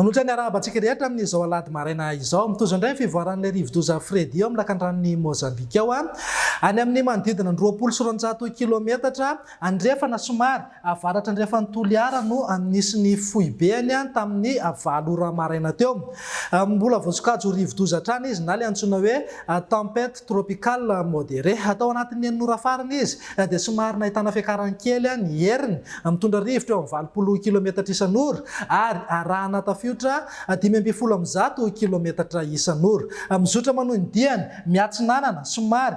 Manoatra ny arahaba antsika rehetra amin'izao alahady maraina izao. Mitozo indray ny fivoaran'ilay rivodoza Freddy eo amin'ny lakandranon'i Mozambika eo. Any amin'ny manodidina ny roapolo sy roanjato kilometatra Andrefana somary, avaratrandrefan'i Toliara no nisy ny foibeny tamin'ny valo ora maraina teo. Mbola voasokajy rivo-doza hatrany izy na ilay antsoina hoe tempête tropicale modérée. Tao anatin'ny enin'ora farany izy dia somary nahitana fiakarany kely ny heriny, mitondra rivotra eo amin'ny valopolo kilometatra isan'ora ary arahana tafiotra dimy ambin'ny folo amin'ny zato kilometatra isan'ora. Mizotra manohy ny diany, miatsinanana somary,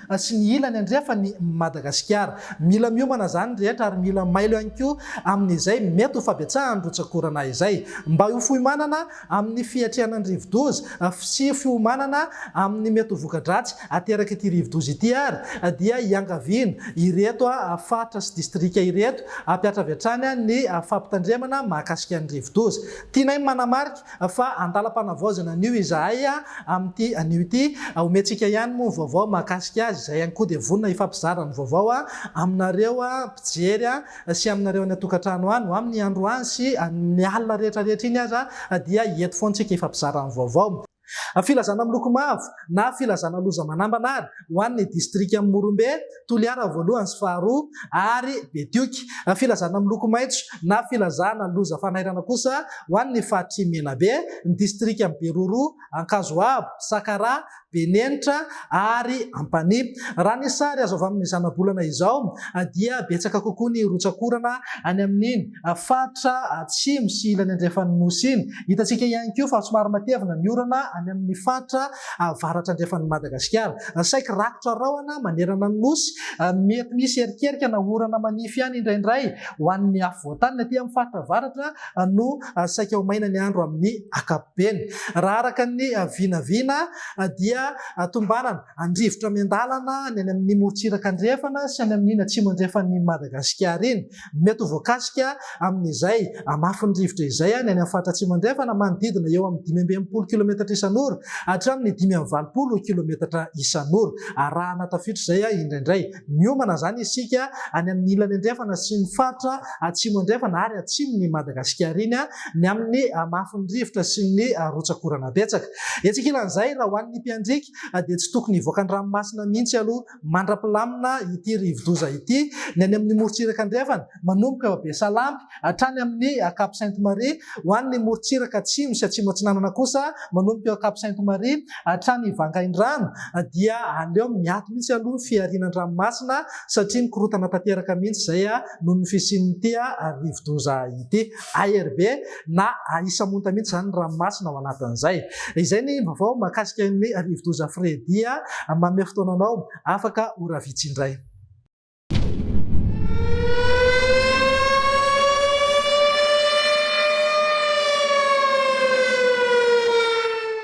sy ny ilany andrefa ny Madagasikara. Mila miomana izany ny rehetra ary mila mailo ihany koa amin'izay mety ho fabetsahan'ny rotsak'orana izay. Mba ho foimanana amin'ny fiatrehana ny rivodoza sy fiomanana amin'ny mety ho voka-dratsy aterak'ity rivodoza ity ary dia iangaviana ireto faritra sy distrika ireto hampiatra avy hatrany ny fampitandremana mahakasika ny rivodoza. Tianay manamarika Fa an-dalam-panavaozana anio izahay amin'ity anio ity. Omentsika ihany moa ny vaovao mahakasika azy, izay ihany koa dia vonona hifampizara ny vaovao aminareo mpijery sy aminareo any an-tokantrano any. Ho amin'ny androany sy ny alina rehetra rehetra iny aza dia eto foana isika hifampizara ny vaovao. Filazana miloko mavo na filazana loza manambana ary ho an'ny distrikan'i Morombe. Toliara voalohany sy faharoa ary Betioky. Filazana miloko maitso na filazana loza fanairana kosa ho an'ny faritry Menabe, ny distrikan'i Beroro, Ankazoabo, Sakaraha, Benenitra ary Ampanihy. Raha ny sary azo avy amin'ny zanabolana izao dia betsaka kokoa ny rotsak'orana any amin'iny faritra atsimo sy ilany andrefan'ny Nosy iny. Hitantsika ihany koa fa somary matevina ny orana any amin'ny faritra avaratra andrefan'i Madagasikara. Saiky rakotra rahona manerana ny Nosy, mety misy erikerika na orana manify ihany indraindray ho an'ny afovoantany ny aty amin'ny faritra avaratra no saika ho maina ny andro amin'ny ankapobeny. Raha araka ny vinavina dia tombanana an-drivotra miandalana ny any amin'ny morontsiraka andrefana sy any amin'iny atsimo andrefan'i Madagasikara iny. Mety ho voakasika amin'izay hamafin'ny rivotra izay ny any amin'ny faritra Atsimo Andrefana manodidina eo amin'ny dimy amby enimpolo kilometatra isan'ora hatramin'ny dimy amby valopolo kilometatra isan'ora. Arahana tafitr'izay indraindray. Miomana izany isika any amin'ny ilany andrefana sy ny faritra Atsimo Andrefana ary Atsimon'i Madagasikara iny ny amin'ny hamafin'ny rivotra sy ny rotsak'orana betsaka. Etsy ankilan'izay, raha ho an'ny mpiandriaka dia tsy tokony hivoaka ny ranomasina mihitsy aloha. mandra-pilamina ity rivo-doza ity, ny any amin'ny morontsiraka andrefana, manomboka Besalampy, hatrany amin'ny Cap Sainte-Marie, ho an'ny morontsiraka atsimo sy atsimo-atsinanana kosa, manomboka eo Cap Sainte-Marie, hatrany Vangaindrano, dia aleo miato mihitsy aloha ny fihariana an-dranomasina, satria mikorontana tanteraka mihitsy izay noho ny fisian'ity rivo-doza ity. ARB na Ahisamonta mihitsy izany ny ranomasina ao anatin'izay. Izay ny vaovao mahakasika an'i Rivodoza Freddy a! Manome fotoana anao afaka ora vitsy indray.